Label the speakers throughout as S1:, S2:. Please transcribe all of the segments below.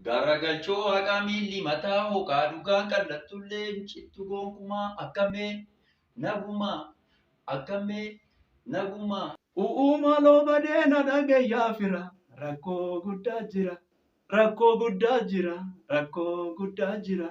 S1: Garagalchoo Waaqaa miilli mataa hooqaa dhugaan qal'attullee hin cittu gonkumaa akkamee nagumaa akkamee nagumaa. Uu'uu
S2: maaloo badee na dhagahi yaa fira rakkoo guddaa jira rakkoo guddaa jira rakkoo guddaa jira.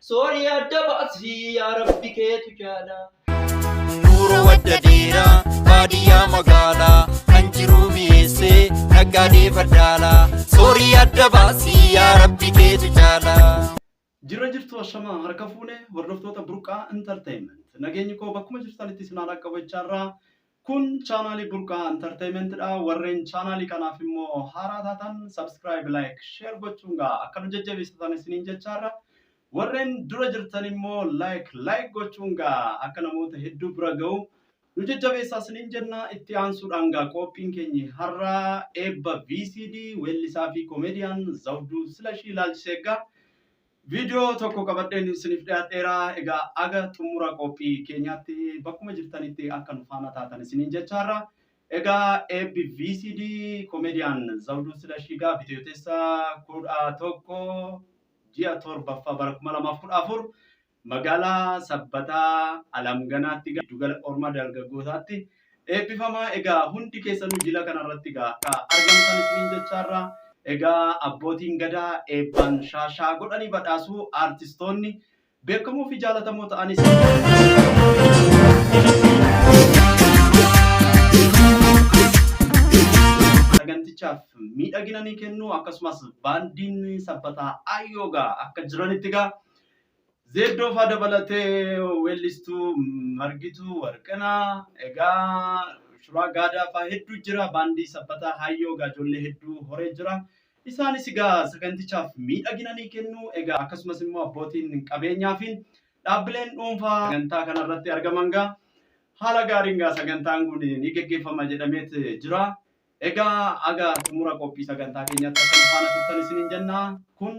S1: Soorii adda baasii yaa rabbi keetu jaalaa. Nuuroo
S3: wadda dheeraa baadiyyaa magaalaa kan jiruu mi'eessee naggaadee faddaalaa soorii adda baasii yaa rabbi keetu jaalaa. Jirra jirtu
S2: ashamaa harka fuune hordoftoota burqaa entertainment nageenyi koo bakkuma jirtanitti isin haala qabachaarraa Kun channel Burqaa Entertainment dha. Warreen channel kanaaf immoo haaraa taatan subscribe, like, share gochuun gaa akka nu jajjabeessatan isiniin jechaarra. Warreen dura jirtan immoo like, like gochuun gaa akka namoota hedduu bira ga'u nu jajjabeessaa isiniin jenna. Itti aansuudhaan gaa qophiin keenyi har'a eebba VCD weellisaa fi komediyaan Zawduu Silashii ilaalchisee gaa Viidiyoo tokko qabadheen isiniif dhiyaadheera. Egaa aga xumura qophii keenyaatti bakkuma jirtanitti akka nu faana taatan isiniin jechaarra. Egaa eebbi VCD Komediyaan Zawduu Silashii gaa bitootessa kudha tokko ji'a torbaffaa bara kuma lamaaf kudha afur magaalaa Sabbataa Alamganaatti giddugala oolmaa dargaggootaatti Eebbifamaa egaa hundi keessanuu jila kana irratti egaa akka argamtan isiniin jechaarra egaa abbootiin gadaa eebbaan shaashaa godhanii badhaasu aartistoonni beekamoo fi jaalatamoo ta'anis sagantichaaf miidhagina ni kennu akkasumas baandiin sabbataa ayyoogaa akka jiranitti egaa Zeeddoo faa dabalatee weellistuu Margituu Warqinaa, egaa Shuraa Gaadaa faa hedduu jira, baandii Sabbataa Haayyoo egaa ijoollee hedduu horee jira. Isaanis egaa sagantichaaf miidhagina ni kennu. Egaa akkasumas immoo abbootiin qabeenyaa fi dhaabbileen dhuunfaa sagantaa kanarratti argaman egaa haala gaariin egaa sagantaan kun ni geggeeffama jedhameet jira. Egaa aga xumura qophii sagantaa keenyaatti akka nu faana turtan isiniin jenna. Kun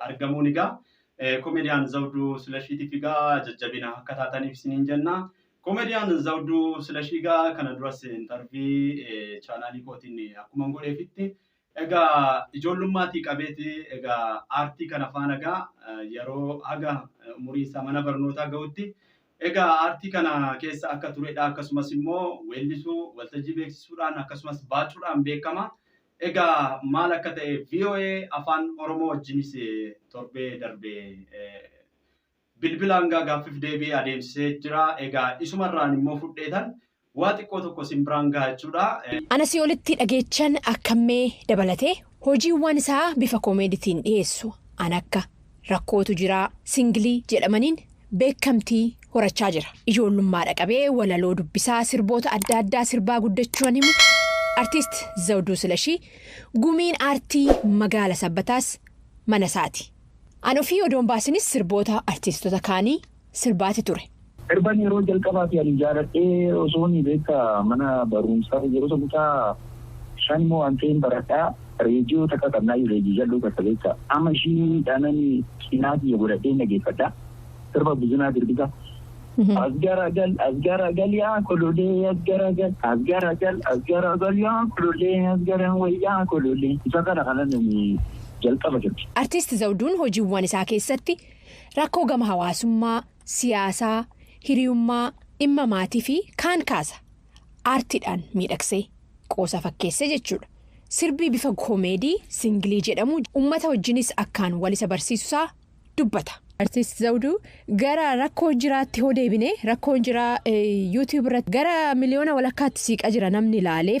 S2: argamuun egaa komediyaan Zawduu Silashiitiif egaa jajjabina akka taataniif isiniin jenna. Komediyaan Zawduu Silashii egaa kana duras intarvii chaanaalii kootiin akkuma godheefitti egaa ijoollummaatii qabeeti egaa aartii kana faana egaa yeroo haga umurii isaa mana barnootaa ga'utti egaa aartii kana keessa akka turedha akkasumas immoo weellisuu waltajjii beeksisuudhaan akkasumas baacuudhaan beekama. Egaa maal akka ta'e voa afaan oromoo wajjinis torbee darbe bilbilaan gaa gaaffiif deebii adeemsisee jira egaa isuma irraan immoo fudheetan waa xiqqoo tokko sin biraan gaha jechuudha. An asii olitti
S4: dhageechan akkammee dabalatee hojiiwwaan isaa bifa koomeeditiin dhiyeessu an akka. rakkootu jira. Singilii jedhamaniin beekkamtii horachaa jira. Ijoollummaadha qabee walaloo dubbisaa sirboota adda addaa sirbaa guddachuu an himu Artiist Zawduu Silashii, gumiin aartii magaala Sabbataas manasaati. An ofii odoon baasinis sirboota artiistota kaanii sirbaati ture. Sirban yeroo
S5: jalqabaati ani jaaladhee osooni beekta mana barumsaa yeroo san kutaa shan moo an ta'een baradhaa reediyoo takka qabnaayyuu reediyoo jal'oo takka beekta amma ishii dhaanani cinaa kiyya godhadheen dhageeffadha sirba Buzunaa Dirbisa as garagal as garagal yaa kololee as garagal as garagal as garagal yaa kololee as garan wayyaa kololee isa kana kanan jalqaba sirbe. Artiist Zawduun
S4: hojiiwwan isaa keessatti Rakkoo gama hawaasummaa, siyaasaa, hiriyummaa, dhimma maatiifi kaan kaasa. Aartiidhaan miidhagsee, qoosaa fakkeessee jechuudha. Sirbi bifa koomeedii singilii jedhamu ummata wajjinis akkaan walisa barsiisusaa dubbata. Artist Zawduu, Gara rakkoo jiraatti hoo deebine, rakkoon jiraa YouTube irratti gara miliyoona walakkaatti siiqa jira namni laalee.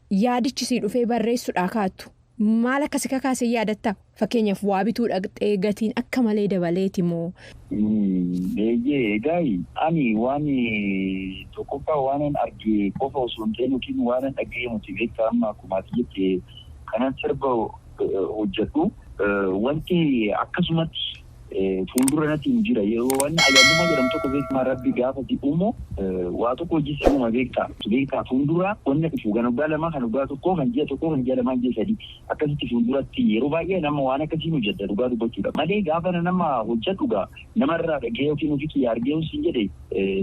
S4: Yaadichi sii dhufee barreessuudhaa kaattu. Maal akka si kakaase hin yaadattaa? Fakkeenyaaf waa bituu dhaqxee gatiin akka malee dabaleeti moo? Eeyyee, egaai
S5: ani waan tokkoffaa waanan arge qofa osoo hin ta'in yookiin waanan dhaga'e miti beektaa amma akkuma ati jette kanan sirba hojjedhu wanti akkasumatti Fuuldura natiin jira yeroo wanni ajaa'ibummaa jedhamu tokko beekmaa rabbi gaafa si uumu waa tokko hojii si uuma beektaa si beektaa fuuldura wanna dhufu kan waggaa lamaa kan waggaa tokkoo kan ji'a tokkoo kan ji'a lamaa ji'a sadii akkasitti fuulduratti yeroo baay'ee nama waan akkasiin hojjadha dhugaa dubbachuudha malee gaafa na nama hojjadhu gaa nama irraa dhagee yookiin ofii kiyya argee yoon siin jedhe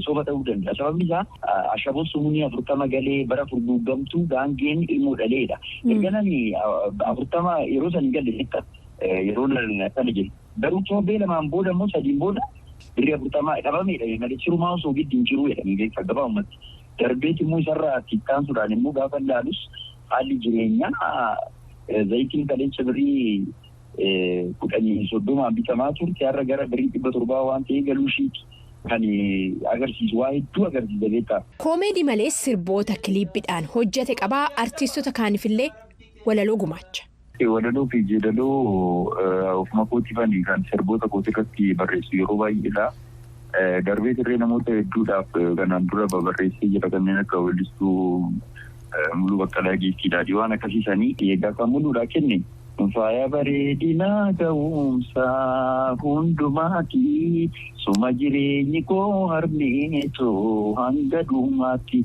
S5: soba ta'uu danda'a sababni isaa ashaboo sumunii afurtama galee bara furguuggamtuu gaangeen ilmoo dhaleedha erga nani afurtama yeroo san hin galle jetta yeroo ilaalan akkana jedhu. Garuu torbee lamaan booda immoo sadiin booda birrii afurtamaa dhabame jedhame malee sirumaa osoo giddu hin jiruu jedhame beektaa gabaabumatti. Darbeet immoo isarraa itti ittaansuudhaan immoo gaafa ilaalus haalli jireenyaa zayitiin kaleessa birrii kudhanii soddomaan bitamaa turte har'a gara birrii dhibba torbaa waan ta'ee galuu ishiiti. kan agarsiisu waa hedduu agarsiisa beektaa. Koomeedii malees
S4: sirboota kiliippidhaan hojjete qabaa artiistota kaanifillee walaloo gumaacha. Walaloo fi
S5: yeedaloo of makoottifani kan sirboota kootirratti barreessu yeroo baay'eedha. Darbees illee namoota hedduudhaaf kanaan dura babarreessee jira kanneen akka weellistuu Muluu Baqqalaa Giiftii Daadhii waan akkasii sanii. Egaa kan Muluudhaa kenne. Faaya bareedinaa ga'umsaa hundumaati suma jireenyi koo harmee too hanga dhumaatti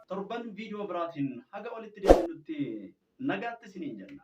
S2: Torban viidiyoo biraatiin haga walitti deebinutti nagaatti isiniin jenna.